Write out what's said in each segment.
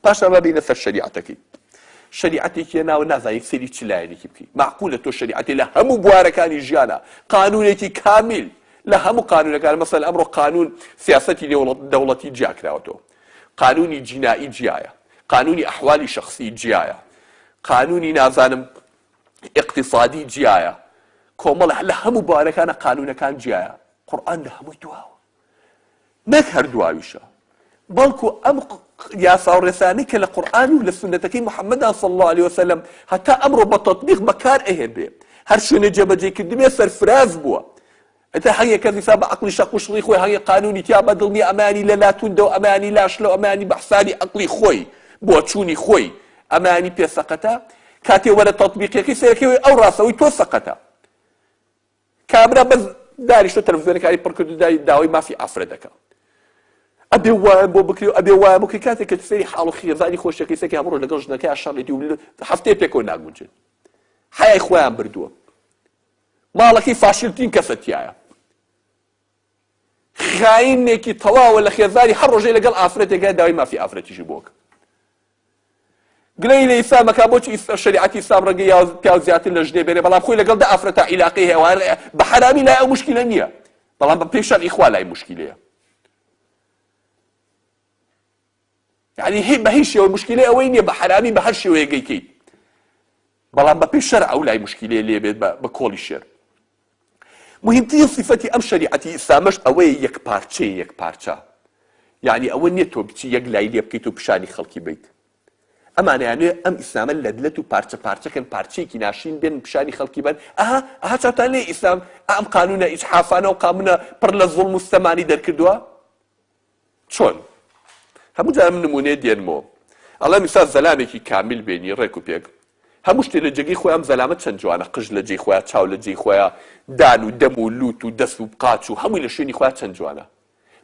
پاشان با بێینە سەر شەریعەتەکەی. شەریعەتێکی هێناوە نازانیت سەیری چ لایەنێکی بکەیت. مەعقولە تۆ شەریعەتی لە هەموو بوارەکانی ژیانا، قانوونێکی کامیل لە هەموو قانوونەکان، مەسەلەن ئەمڕۆ قانوون سیاسەتی نێوەڵ دەوڵەتی جیا کراوەتەوە. قانوونی جینائی جیایە. قانوونی ئەحوالی شەخسی جیایە. قانوونی نازانم ئیقتیسادی جیایە. کۆمەڵ لە هەموو بوارەکانا قانوونەکان جیایە. قورئان لە هەمووی دواوە. نەک هەر دواویشە بەڵکو ئەم یاساو ڕێسانەی کە لە قورئان و لە سوننەتەکەی محمددا صلی اللە علیە وسلم هەتا ئەمڕۆ بە تەطبیق بەکار ئەهێنرێ هەر شوێنێ جێبەجێی کردبێ سەرفراز بووە ئەتە هەنگێ کەس ئیسا بە عەقڵی شەق و شڵی خۆی هەنگێ قانونی تیا بە دڵ نیە ئەمانی لە لا توندە و ئەمانی لا شلە و ئەمانی بە حسابی عەقڵی خۆی بۆچوونی خۆی ئەمانی پێ سەقەتە کاتێ وەرە تەطبیقیەکەی سەیەکەی ئەو ڕاستەوەی تۆ سەقەتە کابرا بەس دانیشتوە تەلەفزیۆنەکانی پڕ کردو دای داوای مافی ئافرەت دەکا ئەبێ وایان بۆ بکرێ و ئەبێ وایان بۆ بکرێ کاتێک کە سەیری حاڵ و خێزانی خۆشیەکەی سەکەی هەموو ڕۆژ لەگەڵ ژنەکەیا شەڕی دی و هەفتەیە پێکەوە ناگونجێن حەیای خۆیان بردووە ماڵەکەی فاشیلترین کەسە تیایە خاینێکی تەواوە لە خێزانی هەر ڕۆژەی لەگەڵ ئافرەتێک هەیە داوای مافی ئافرەتیشی بۆ ئەکات گلەیی لە ئیسلام ئەکات بۆچی شەریعەتی ئیسلام ڕەنگە یا پیاو زیاتر لە ژنێ بێنێ بەڵام خۆی لەگەڵ دە ئافرەتا عیلاقەی هەیە وان بە حەرامی لای ئەو مشکلە نییە بەڵام بە پێی شەرعی خوا لای مشکلەیە یانی هی بەهیچ شێوە مشکیلەی ئەوەی نیە بە حەرامی بە هەر شێوەیەک گەیکەیت بەڵام بە پێی شەرع ئەولای مشکیلەی لێ بێت بە کۆڵی شێر مهمترین صفەتی ئەم شەریعەتی ئیسلامەش ئەوەیە یەک پارچەیە یەک پارچە یانی ئەوە نیە تۆ بچی یەک لای لێ بکەیت و پیشانی خەڵکی بیت ئەمانیانێ ئەم ئیسلامە لەدلەت و پارچە پارچەکەن پارچەیەکی ناشرین بێن پیشانی خەڵکی بن ئەها ئەها چاوتان لێ ئیسلام ئەم قانونە ئیجحافانە و قامونە پڕ لە زوڵم و ستەمانی دەرکردووە چۆن؟ هەموو جار ئەم نموونەیە دێنمۆ ئەڵێم ئیستا زەلامێکی کامیل بێنی ڕێک و پێک هەموو شتێ لە جێگەی خۆیا ئەم زەلامە چەند جوانە قژ لە جێی خۆیا چاو لە جێی خۆیا دان و دەم و لووت و دەست و قاچ و هەمووی لە شوێنی خۆیا چەند جوانە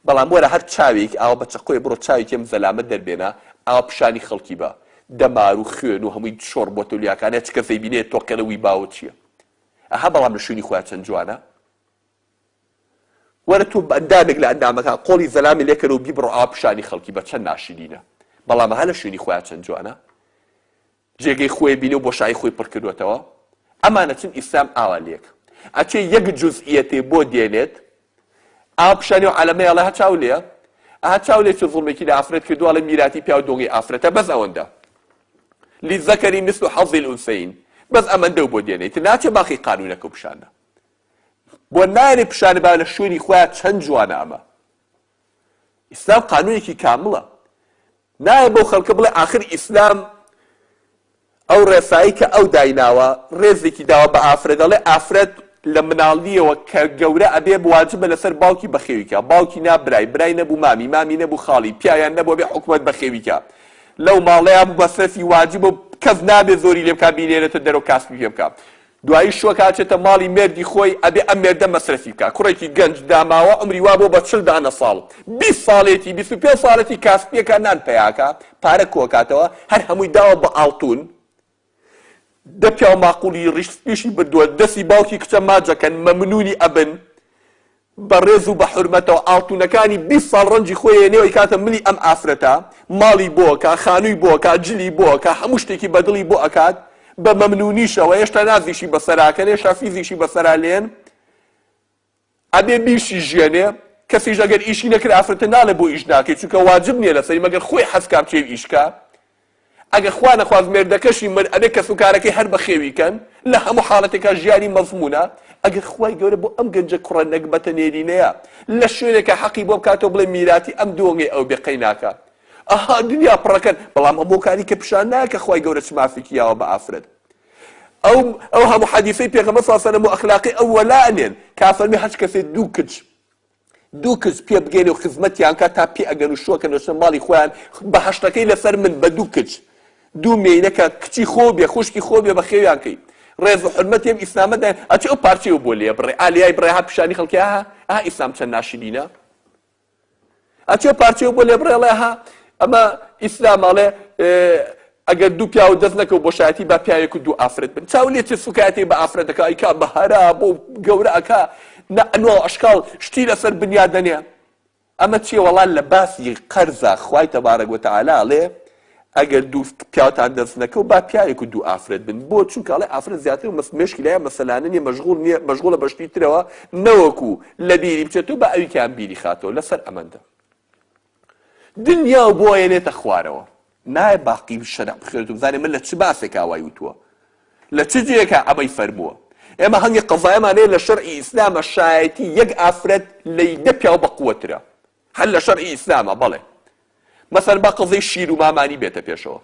بەڵام وەرە هەر چاوێک ئاوا بە چەقۆێ بڕۆ چاوێکی ئەم زەلامە دەربێنە ئاوا پیشانی خەڵکی بە دەمار و خوێن و هەمووی شۆڕ بۆتە لویاکانە چ کەسەی بینێ تۆقێنە وی باوە چییە ئەها بەڵام لە شوێنی خۆیا چەند جوانە وەرە تۆ بەئەندامێک لە ئەندامەکان قۆڵی زەلامی لێ کەرەوە بیبڕە ئەوا پیشانی خەڵکی بە چەند ناشرینە بەڵام ئەها لە شوێنی خۆیا چەند جوانە جێگەی خۆی بینە و بۆشایی خۆی پڕ کردوەتەوە ئەمانە چون ئیسلام ئاوا لێک ئەچێ یەک جوزئیەتێ بۆ دێنێت ئاوا پیشانی و عەلەمەی ئەڵێ هە چاو لێیە ئەها چاو لێ چ زوڵمێکی لە ئافرەت کردووە ئەڵێ میراتی پیاو دۆنگی ئافرەتە بەس ئەوەندە للذکر مثل حظ الانثیین بەس ئەمەندەو بۆ دێنێ ئیتر ناچێ باقی قانوونەکە و پیشانە بۆ نایەنێ پیشانی با لە شوێنی خۆیا چەند جوانە ئەمە ئیسلام قانونێکی کامڵە نایە بەو خەڵکە بڵێ ئاخر ئیسلام ئەو ڕێسایی کە ئەو دایناوە ڕێزێکی داوە بە ئافرەت دەڵێ ئافرەت لە مناڵیەوە کە گەورە ئەبێ بواجبە لەسەر باوکی بەخێویکە باوکی نا برای برای نەبوو مامی مامی نەبوو خاڵی پیاویان نەبوو بێ حکومەت بەخێویکە لەو ماڵەیە بوو بەسەفی واجبە کەس نابێ زۆری لێ بکا بینێرێتە دەرەوە کاسپی پێ بکا دوایی شۆک هاچێتە ماڵی مێردی خۆی ئەبێ ئەم مێردە مەسرەفی بکات کوڕێکی گەنج داماوە عومری وابۆ بە چل دانە ساڵ بیست ساڵێتی بیست و پێنج ساڵێتی کاسپیەکە نان پەیاکا پارە کۆکاتەوە هەر هەمووی داوە بە ئاڵتون دە پیاو ماقوڵی ڕیش سپیشی بردوە دەسی باوکی کچە ماجەکەن مەمنونی ئەبن بە ڕێز و بە حورمەتەوە ئاڵتونەکانی بیست ساڵ ڕەنجی خۆی ئەیەنێ و ئەیکاتە ملی ئەم ئافرەتە، ماڵی بۆ ئەکا، خانووی بۆ ئەکا، جلی بۆ ئەکا، هەموو شتێکی بە دڵی بۆ ئەکات، بە مەمنونیشە و هێشتا نازیشی بە سەرا ئەکەن، هێشتا فیزیشی بە سەرا لێن، ئەبێ بیشیژیەنێ، کەسیش ئەگەر ئیشی نەکرد ئافرەتە ناڵێ بۆ ئیش ناکەی، چونکە واجب نیە لەسەری مەگەر خۆی حەز کا بچێ و ئیش کا. ئەگەر خوا نەخواست مێردەکەشی مرد ئەبێ کەسوکارەکەی هەر بەخێوی کەن، لە هەموو حاڵەتێکا ژیانی مەزموونە، ئەگەر خوای گەورە بۆ ئەم گەنجە کوڕە نەگبەتە نێرینەیە لە شوێنێکا حەقی بۆ بکاتەوە بڵێ میراتی ئەم دۆنگەی ئەو بێ قەیناکە ئەها دنیا پڕەکەن بەڵام ئەم هۆکاری کە پیشان نایە کە خوای گەورە چ مافێکی یاوە بە ئافرەت ئەو ئەو هەموو حەدیسەی پێغەمبەر صلی اللە علیە و سلم و ئەخلاقی ئەو وەلا ئەنێن کە ئەفەرمێ هەچ کەسێ دوو کچ دوو کچ پێ بگەینە و خزمەتیان کە تا پێ ئەگەن و شوەکەن و چنە ماڵی خۆیان بە هەشتەکەی لە سەر من بە دوو کچ دوو مێینە کە کچی خۆو بێ خوشکی خۆو بێ بە خێویان کەی ڕێز و حورمەتی ئەم ئیسلامە دایە ئەچێ ئەو پارچەی و بۆ لێ بڕێ ئا لێای بڕێ ها پیشانی خەڵکی ئاها ئاها ئیسلام چەند ناشرینە ئەچێ پارچەی و بۆ لێ بڕێڵێ ها ئەمە ئیسلام ئەڵێ ئەگەر دوو پیاوت دەست نەکەوت بۆ شایەتی با پیاوێک و دوو ئافرەت بن چاو لێ چێ سوکایەتی بە ئافرەت ئەکا ئیکا بە هەرا بۆ گەورە ئەکا نە ئەنواو ئەشکاڵ شتی لەسەر بنیات دەنێ ئەمە چیە وەڵا لە باسی قەرزا خوای تەبارەک وەتەعالا ئەڵێ ئەگەر دوو پیاوتان دەست نەکەوت با پیاوێک و دوو ئافرەت بن بۆ چونکە ئەڵێ ئافرەت زیاتر مەس مێشکی لایان مەسەلانە نیە مەشغوڵ نیە مەشغوڵە بە شتی ترەوە نەوەکو لە بیری بچێتو با ئەویکیان بیری خاتەوە لەسەر ئەمەندە دنیا و بۆ ئەیەنێتە خوارەوە. نایە باقی بشەرع بخوێنێت و بزانێت من لە چ باسێکا وای وتووە؟ لە چ جێیەکا ئەمەی فەرمووە؟ ئێمە هەنگێ قەزایەمان هەیە لە شەرعی ئیسلامە شایەتی یەک ئافرەت لەی دە پیاو بەقوەترە. هەر لە شەرعی ئیسلامە بەڵێ. مەسەن با قەزەی شیر و مامانی بێتە پێشەوە.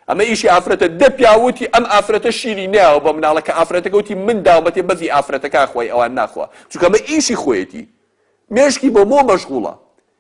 ئەمە ئیشی ئافرەتە دە پیاو وتی ئەم ئافرەتە شیری نەیاوە بە مناڵە کە ئافرەتەکە وتی من داوم بەتێ بەزی ئافرەتەکان خوای ئەوان ناخوا چونکە ئەمە ئیشی خۆیەتی مێشکی بۆ مۆ مەشغوڵە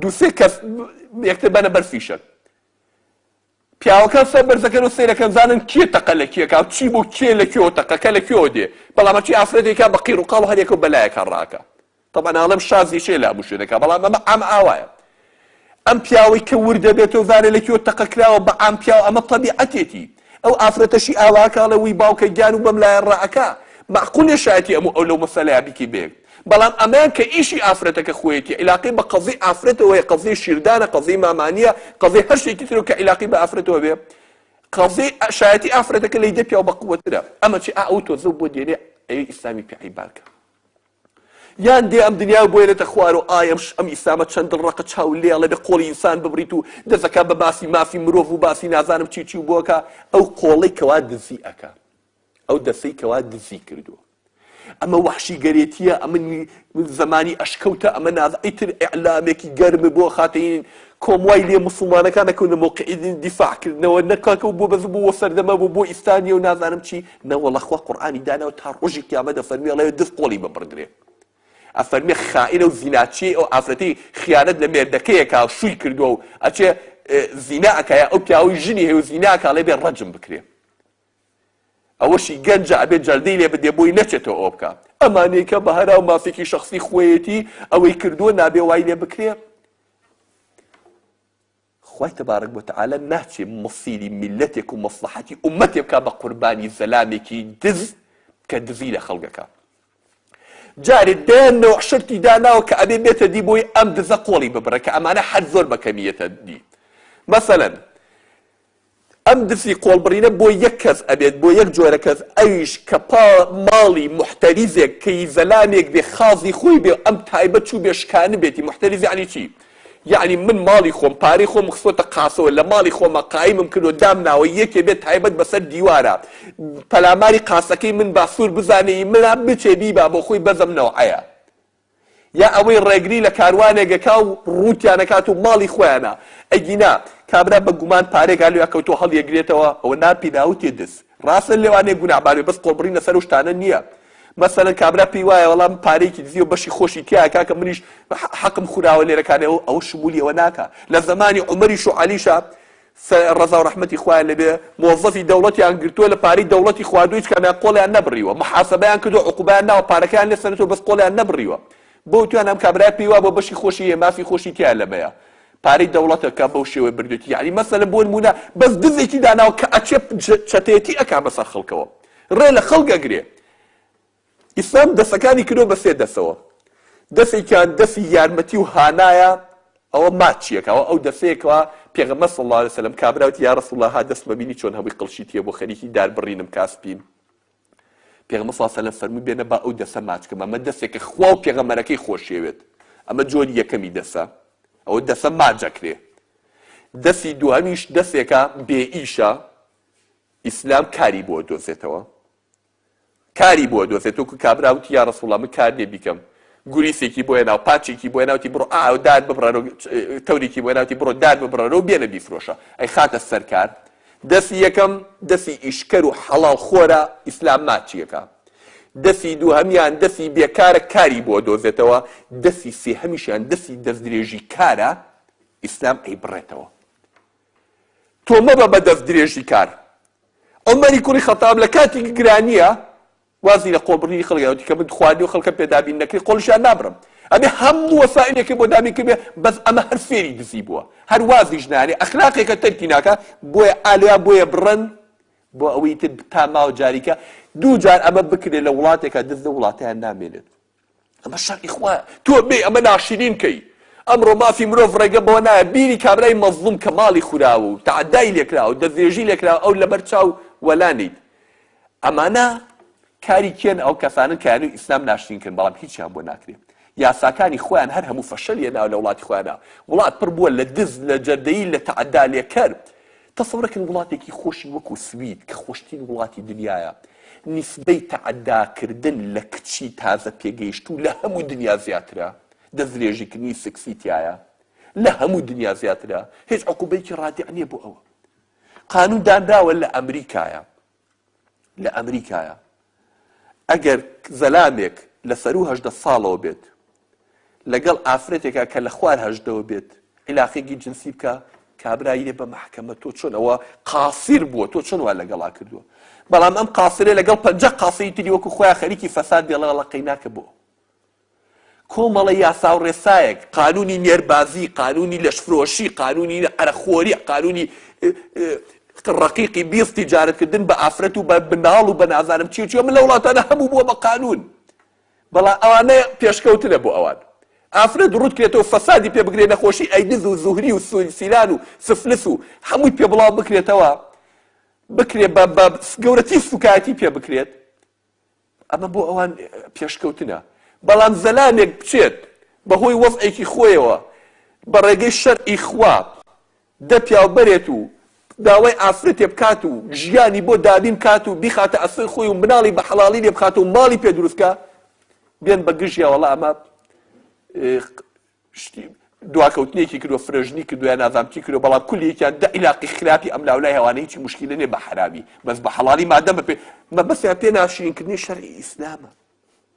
دوو سێ کەس یەکتر بەنە بەر فیشەک. پیاوەکان سەر بەرزەکەن و سەیرەکەن زانن کێ تەقە لە کێکا و چی بۆ کێ لە کوێوە تەقەکە لە کوێوە دێ بەڵام هەرچی ئافرەتێکا بە قیڕ و قاڵ و هەر یەکە و بەلایەکە ڕاکە تەبا ناڵێم شازی شێ لابوو شوێ دەکا بەڵام ئەمە ئەم ئاوایە ئەم پیاوەی کە وردە بێتەوە زانێ لە کوێوە تەقە کراوە بە ئەم پیاو ئەمە تەبیعەتێتی ئەو ئافرەتەشی ئاواکا ئەڵێ وی باوکە گیان و بەم لایە ڕائەکا مەعقول نیە شایەتی ئەم و ئەو لەو مەسەلەیا بیکەی بەیەک بەڵام ئەمەیان کە ئیشی ئافرەتەکە خۆیەتی عیلاقەی بە قەزیەی ئافرەتەوە هەیە قەزیەی شیردانە قەزیەی مامانیە قەزیەی هەر شتێکی ترە کە عیلاقەی بە ئافرەتەوە بێ قەزیەی ئە شایەتی ئافرەتەکە لەی دە پیاو بە قوەترە ئەمە چی ئا ئەو تۆزە بۆ دێنێ ئەوی ئیسلامی پێ عەیباکە. یان دێ ئەم دنیا بوێنێتە خوار و ئای ئەم ئیسلامە چەند دڵڕەقە چاو لێڵە بێ قۆڵی ئینسان ببڕیت و دەسەکە بە باسی مافی مرۆڤ و باسی نازانم چی چی و بۆ کە ئەو قۆڵەی کە وا دزی ئەکا ئەو دەسەی کە وا دزی کردووە ئەمە وەحشی گەرێتیە ئەمە زمانی ئەشکەوتە ئەمە ناز ئیتر ئیعلامێکی گەرم بۆ خاتەین کۆم وای لێ مسلمانەکان نەکەونە مۆقعی دیفاع کردنەوە نەکاکە و بۆ بەز بوو سەردەمە بوو بۆ ئیسلانیە و نازانم چی نەوەڵا خوا قورئانی داناوە تا ڕۆژی قیامەت ئەفەرموێ ئەڵێ دز قۆڵی ببڕدرێ ئەفەرموێ خائینە و زیناچیەی ئەو ئافرەتەی خیانەت لە مێردەکەیەکا شووی کردوە و ئەچێ زینا ئەکایە ئەو پیاوەی ژنی هەیە و زینا ئەکا ئەڵێ بێ ڕەجم بکرێ ئەوەشی گەنجە ئەبێ جەردەی لێ بدێ بۆی نەچێتەوە ئەوە بکا ئەمانەی کە بە هەرا و مافێکی شەخسی خۆیەتی ئەوەی کردووە نابێ وای لێ بکرێ خوای تبارک و تعالی ناچێ مصیری میلەتێک و مصلەحەتی ئومەتێ بکا بە قوربانی زەلامێکی دز کە دزی لە خەڵک ئەکا جارێ دەیان نەوع شرتی داناوە کە ئەبێ بێتە دی بۆی ئەم دزە قۆڵی ببڕێ کە ئەمانە هەر زۆر بە کەمی یەتە دی مەسەلەن ئەم دفی قۆڵبڕینە بۆ یەک کەس ئەبێت بۆ یەک جۆرە کەس ئەویش کە پا ماڵی موحتەریزێک کە ی زەلامێک بێ خازی خۆی بێ و ئەم تایبە چوو بێ شکانبێتی موحتەریز یەعنی چی یەعنی من ماڵی خۆم پارەی خۆم خستۆتە قاسەوە لە ماڵی خۆما قایمم کردوە دام ناوە یەکێ بێ تایبەت بە سەر دیوارە پەلاماری قاسەکەی من با سور بزانێ ی منە بچێ بیبا بۆ خۆی بەزم نەوعەیە یا ئەوەی ڕێگری لە کاروانێک ئەکا و ڕووتیان ئەکات و ماڵی خۆیانە ئەگینا کابرا بە گومان پارەێکا لێ ئەکەوتوە هەڵیەگرێتەوە ئەوە ناپی ناوتێ دز ڕاستە لێوانێ گوناحبار بێ بەس قۆڵبڕین لەسەر ئەو شتانە نیە مەسەلەن کابرا پێی وایە وەڵا من پارەیەکی دزیوە بەشی خۆشی تیا ئەکا کە منیش حەقم خوراوە لێرە کانێ ئەوە شمولی ئەوە ناکا لە زەمانی عومەریش و عەلیشا سە رزاو رەحمەتی خوایان لێبێ مۆزەفی دەوڵەتیان گرتوە لە پارەی دەوڵەتی خواردوە هیچ کامیان قۆڵیان نەبڕیوە محاسەبەیان کردوە عقوبەیان ناوە پارەکەیان لێ سەنتوە بەس قۆڵیان نەبڕیوە بۆ تویان ئەم کابرایە پێی وابوە بەشی خۆشی هەیە مافی خۆشی تیایە لەمەیە پارەی دەوڵەتە کە بەو شێوەیە بردوێتی یەعنی مەسەلەن بۆ نمونە بەس دزێکی داناوە کە ئەچێ چەتەیەتی ئەکا بەسەر خەڵکەوە رێ لە خەڵک ئەگرێ ئیسلام دەستەکانی کردووە بە سێ دەستەوە، دەستێکیان دەستی یارمەتی و هانایە، ئەوە ماچییەکە، ئەوە ئەو دەستەیە کەوا پێغەمبەر صلی اللە علیە وسلم کابرا وتی، یا رسول اللە ها دەستمە بینی چۆن هەمووی قڵشی تییە بۆ خەریکی دار بڕینم کا سپیم، پێغەمبەر صلی اللە علیە وسلم فەرمووی بێنە با ئەو دەستە ماچ کەم، ئەمە دەستێکە خوا و پێغەمبەرەکەی خۆشیەوێت، ئەمە جۆری یەکەمی دەستە، ئەوە دەستە ماچ ئەکرێ، دەستی دووهەمیش دەسێکە بێ ئیشە، ئیسلام کاری بۆ ئەدۆزێتەوە. کاری بۆ دۆزێت وەکو کابرا وتی یا رسول اللە من کار نیە بیکەم گوریسێکی بۆ هێناو پاچێکی بۆ هێناوتی بڕۆ ئاو دار ببڕەرۆ تەورێکی بۆ هێناوتی بڕۆ دار ببڕەرۆ و بێنە بیفرۆشە ئەی خاتە سەر کار دەسی یەکەم دەسی ئیشکەر و حەڵاڵ خۆرە ئیسلام ماچیەکە دەسی دووهەمیان دەسی بێکارە کاری بۆ دۆزێتەوە دەسی سێهەمیشیان دەسی دەستدرێژی کارە ئیسلام ئەی بڕێتەوە تۆ مەبە بە دەست درێژی کار. عومەری کوڕی خەتاب لە کاتی گرانیە وازی لە قۆڵ بڕینی خەڵک داوە چونکە من خواردنی و خەڵکە پێدابین نەکری قۆڵیشیان نابڕم ئەبێ هەموو وەسائلێکی بۆ دابین کردبێ بەس ئەمە هەر فێری دزی بووە هەر وازیش نارێ ئەخلاقێکە تەرکی ناکە بۆیە ئالیا بۆیە بڕن بۆ ئەوەی تر تا ماوە جاریکە دوو جار ئەمە بکرێت لە وڵاتێکە دز لە وڵاتیان نامێنێت ئەمە شەرعی خوایە تۆ بێی ئەمە ناشیرین کەی ئەمڕۆ مافی مرۆڤ ڕێگە بەوە نایە بیری کابرای مەزڵوم کە ماڵی خوراوە و تەعەدای لێکراوە و دەستدرێژی لێکراوە ئەو لەبەر چاو وەلا نیت ئەمانە کاری کێن ئەو کەسانن کە یانوی ئیسلام ناشرین کردن بەڵام هیچیان بۆ ناکرێ یاساکانی خۆیان هەر هەموو فەشەل یەناوە لە وڵاتی خۆیانە وڵات پڕ بووە لە دز لە جەردەیی لە تەعەدا لێکەر تەسەورەکەن وڵاتێکی خۆشی وەکو سوید کە خۆشترین وڵاتی دنیایە نیسبەی تەعەداکردن لە کچی تازە پێگەیشتوو لە هەموو دنیا زیاترە، دەستدرێژیکردنی سکسی تیایە لە هەموو دنیا زیاترە، هێچ عقوبەیەکی ڕادیع نیە بۆ ئەوە. قانون دانراوە لە ئەمریکایە. لە ئەمریکایە ئەگەر زەلامێک لە سەروو هەژدە ساڵەوە بێت لەگەڵ ئافرەتێکا کە لە خوار هەژدەوە بێت عیلاقێکی جنسی بکە کابرای دێ بە مەحکەمە تۆ چۆن ئەوە قاسیر بووە تۆ چۆن وا لەگەڵا کردووە بەڵام ئەم قاسرێ لەگەڵ پەنجە قاسەی تری وەکو خۆیان خەریکی فەساد دێڵە لەقەی ناکە بۆ کۆمەڵە یاسا و ڕێسایەک، قانوونی نێربازی، قانوونی لەشفرۆشی، قانوونی عەرەقخۆری، قانوونی ڕەقیقی بیست، تیجارەتکردن بە ئافرەت و بە مناڵ و بە نازانم چی و چی، ئەمە لەو وڵاتانە هەموو بووە بە قانوون، بەڵام ئەوانە پێشکەوتنە بۆ ئەوان. ئافرەت ڕووت کرێتەوە و فەسادی پێ بکرێ، نەخۆشی ئەیدز و زوهری و سیلان و سفلس و هەمووی پێ بڵاو بکرێتەوە، بکرێ بە گەورەترین سووکایەتی پێ بکرێت، ئەمە بۆ ئەوان پێشکەوتنە، بەڵام زەلامێک بچێت بەهۆی وەزعێکی خۆیەوە بە ڕێگەی شەرعی خوا دە پیاو بەرێت و داوای ئافرەتێ بکات و ژیانی بۆ دابین بکات و بیخاتە ئەستۆی خۆی و مناڵی بە حەڵاڵی لێ بخاتەوە و ماڵی پێ دروست بکا بێن بە گژیا وەڵا ئەمە شتی دواکەوتنێکی کردوە فرەژنی کردوە یا نازام چی کردوە بەڵام کولی یەکیان دە عیلاقی خراپی ئەم لاولای هەوانە هیچی موشکیلە نیە بە حەرامی بەس بە حەڵالی مادەم بە پێ مەبەستیان پێ ناشرین کردنی شەرعی ئیسلامە